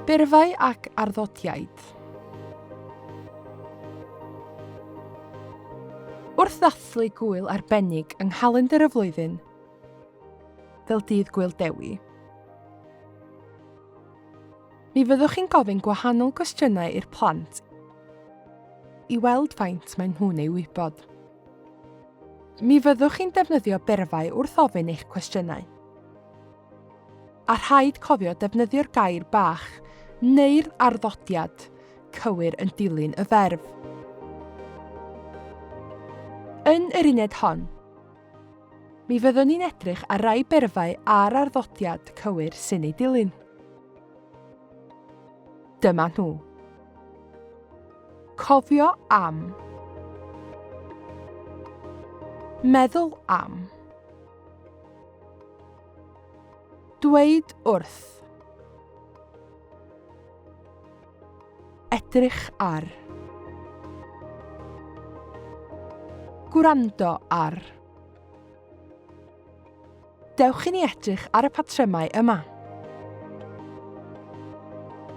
Byrfau ac arddotiaid. Wrth ddathlu gwyl arbennig yng nghalendr y flwyddyn, fel Dydd Gwyl Dewi, mi fyddwch chi'n gofyn gwahanol gwestiynau i'r plant i weld faint maen nhw'n ei wybod. Mi fyddwch chi'n defnyddio berfau wrth ofyn eich cwestiynau. A rhaid cofio defnyddio'r gair bach neu'r arddodiad cywir yn dilyn y ferf. Yn yr uned hon, mi fyddwn ni'n edrych ar rai berfau a'r arddodiad cywir sy'n ei dilyn. Dyma nhw. Cofio am. Meddwl am. Dweud wrth. Edrych ar. Gwrando ar. Dewch i ni edrych ar y patrymau yma.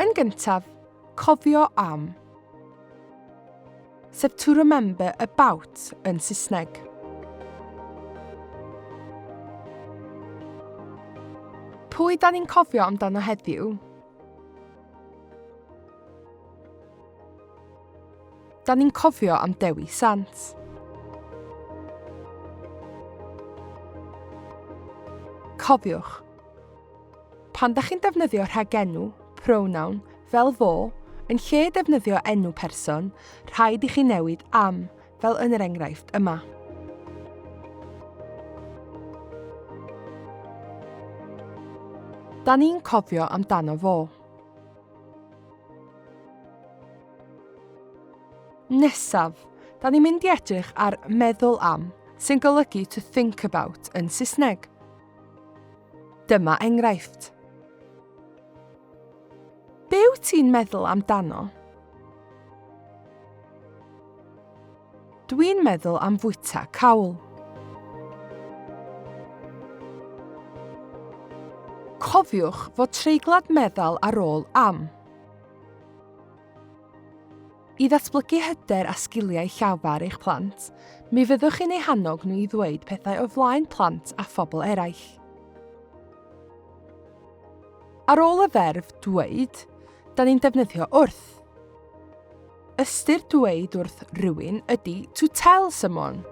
Yn gyntaf, cofio am. Sef to remember about yn Saesneg. Pwy da ni'n cofio amdano heddiw? Da ni'n cofio am Dewi Sant. Cofiwch, pan da chi'n defnyddio rhagenw, pronoun, fel fo, yn lle defnyddio enw person, rhaid i chi newid am, fel yn yr enghraifft yma. Da ni'n cofio amdano fo. Nesaf, da ni'n mynd i edrych ar meddwl am, sy'n golygu to think about yn Saesneg. Dyma enghraifft. Be wyt ti'n meddwl amdano? Dwi'n meddwl am fwyta cawl. Cofiwch fod treiglad meddal ar ôl am. I ddatblygu hyder a sgiliau llafar eich plant, mi fyddwch chi'n ei hannog nhw i ddweud pethau o flaen plant a phobl eraill. Ar ôl y ferf dweud, da ni'n defnyddio wrth. Ystyr dweud wrth rywun ydy to tell someone.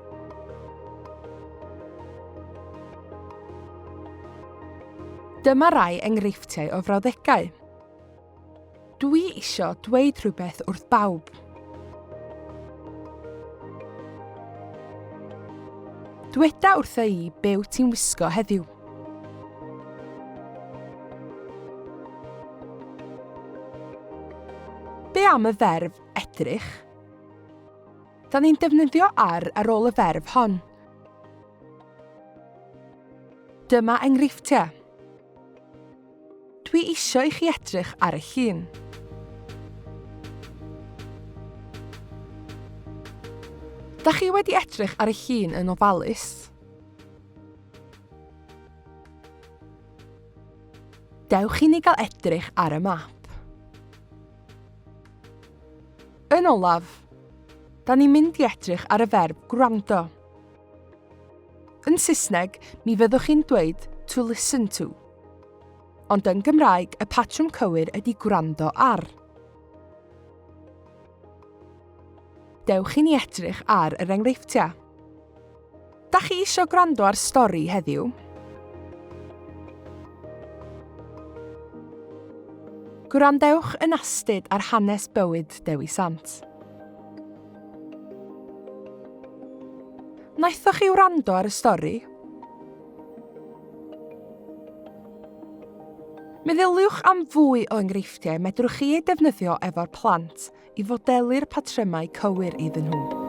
Dyma rai enghreifftiau o frawddegau. Dwi isio dweud rhywbeth wrth bawb. Dweda wrtha i be wyt ti'n wisgo heddiw. Be am y ferf edrych? Da ni'n defnyddio ar ar ôl y ferf hon. Dyma enghreifftiau. Dwi isio i chi edrych ar y llun. Da chi wedi edrych ar y llun yn ofalus? Dewch i ni gael edrych ar y map. Yn olaf, da ni'n mynd i edrych ar y ferb gwrando. Yn Saesneg, mi fyddwch chi'n dweud to listen to. Ond yn Gymraeg, y patrwm cywir ydy gwrando ar. Dewch i ni edrych ar yr enghreifftiau. Da chi eisiau gwrando ar stori heddiw? Gwrandewch yn astud ar hanes bywyd Dewi Sant. Naethoch chi wrando ar y stori? Meddyliwch am fwy o enghreifftiau medrwch chi eu defnyddio efo'r plant, i fodelu'r patrymau cywir iddyn nhw.